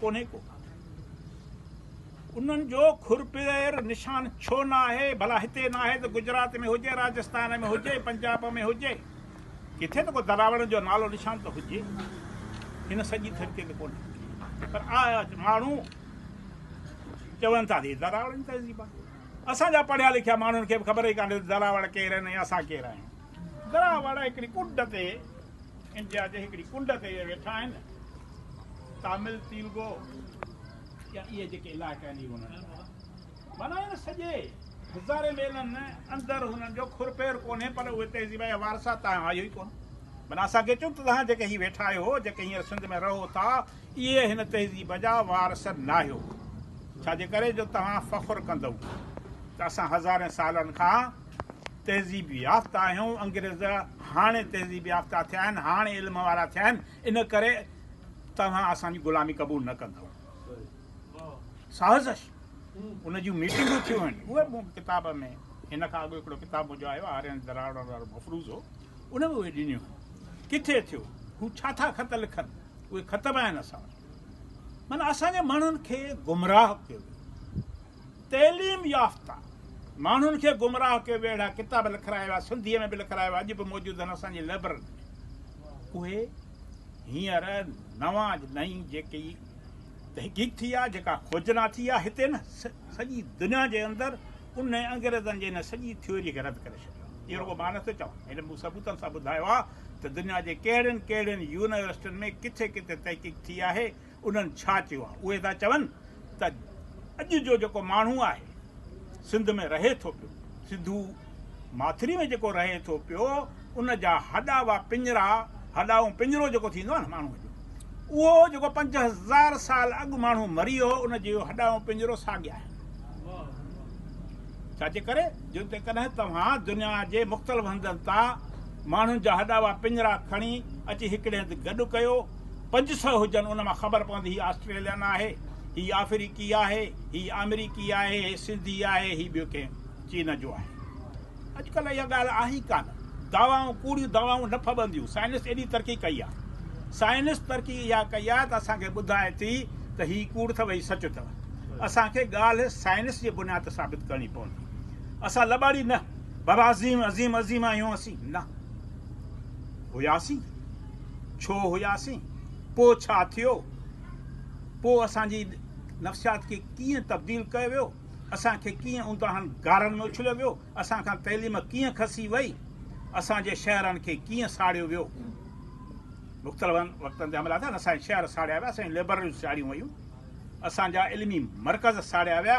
ڪونهي ڪو. انهن جو کر پير نشان ڇو نه آهي؟ ڀلا هتي نه آهي ته گجرات ۾ هجي، راجستان ۾ هجي، پنجاب ۾ هجي. ڪٿي ته ڪو دراوڙن جو نالو نشان ته هجي. هن سڄي ڌرتي تي ڪونهي. پر آء ماڻهو چون ٿا ته هي دراوڙن جي تهذيب آهي. اسان جا پڙهيا لکيا ماڻهن کي به خبر ئي ڪانهي ته دراوڙ ڪير آهن ۽ اسان ڪير آهيون. گرا واڙا هڪڙي ڪنڊ تي انڊيا جي هڪڙي ڪنڊ تي ويٺا آهن تامل تيلگو يا اهي جيڪي علائقا آهن اهي انهن جا معنيٰ هن سڄي هزارين ميلن اندر هنن جو کر پير ڪونهي پر اهي تهذيب يا وارثا تان آيو ئي ڪونه معنيٰ اسان کي چون ته توهان جيڪي هي ويٺا آهيو جيڪي هينئر سنڌ ۾ رهو ٿا اهي هن تهذيب جا وارث ناهيو ڇا جي ڪري جو توهان فخر ڪندؤ ته اسان هزارين سالن کان تهذيب يافته آهيون انگريز هاڻي تهذيب يافته ٿيا آهن هاڻي علم وارا ٿيا آهن ان ڪري توهان اسان جي غلامي قبول نه ڪندؤ سازش ان جون ميٽنگون ٿيون آهن اهي مون ڪتاب ۾ هن کان اڳ هڪڙو ڪتاب منهنجو آيو آرين دراوڙ وارو مفروض هو ان ۾ اهي ڏنيون آهن ڪٿي ٿيو هو ڇا ٿا خط لکن اهي خط به آهن اسان وٽ مانا اسان جي ماڻهن کي گمراهه ڪيو تعليم يافته ماڻهن کي گمراهه ڪيو ويو اهڙا ڪتاب لکرايا ويا سنڌيء ۾ به لکرايا ويا اڄ به موجود آهن اسان جي لئبررين ۾ اهي هينئر نوان نئين جيڪي تحقيق ٿي آهي جيڪا کوجنا ٿي آهي هتي نه سڄي دنيا جي اندر ان انگريزن جي ان سڄي ٿيوريء کي رد ڪري ڇڏيو آهي اهو رڳو مان نه ٿو چوان هن مون ثبوتن سان ٻڌايو آهي ته دنيا جي ڪهڙين ڪهڙين يونيورسٽين ۾ ڪٿي ڪٿي تحقيق ٿي آهي انهن ڇا چيو آهي؟ اهي ٿا چون ته اڄ جو جيڪو ماڻهو آهي سنڌ ۾ رهي ٿو پيو، سنڌو ماٿري ۾ جيڪو رهي ٿو پيو ان جا هڏاوا پڃرا، هڏاون پڃرو جيڪو ٿيندو آهي نه ماڻهوء جو، اهو جيڪو پنج هزار سال اڳ ماڻهو مري ويو هو ان جيو هڏاون پڃرو ساڳيا آهن. ڇا جي ڪري جو جيڪڏهن توهان دنيا جي مختلف هنڌن تان ماڻهن جا هڏاوا پڃرا کڻي اچي هڪڙي هنڌ گڏ ڪيو، پنج سئو هجن ان مان خبر پوندي هي آسٽريلين آهي هي آفريقي آهي هي آمريڪي آهي هي سنڌي آهي هي ٻيو ڪنهن چين جو آهي اڄ ڪلهه اها ڳالهه آهي ئي ڪانه دعوائون ڪوڙيون دعوائون نه ڦٻنديون سائنس ايڏي ترقي ڪئي آهي سائنس ترقي اها ڪئي آهي ته اسان کي ٻڌائي ٿي ته هي ڪوڙ اٿو هي سچ اٿو اسان کي ڳالهه سائنس جي بنياد تي ثابت ڪرڻي پوندي اسان لٻاڙي نه بابا عظيم عظيم عظيم آهيون اسين نه هياسين ڇو هياسين؟ پوء ڇا ٿيو؟ پوء اسان جي نفسيات کي ڪيئن تبديل ڪيو ويو؟ اسان کي ڪيئن اونداهن غارن ۾ اڇليو ويو؟ اسان کان تعليم ڪيئن کسي وئي؟ اسان جي شهرن کي ڪيئن ساڙيو ويو؟ مختلفن وقتن تي حملا ٿيا، اسان جا شهر ساڙيا ويا، اسان جون لئبرريون ساڙيون ويون، اسان جا علمي مرڪز ساڙيا ويا،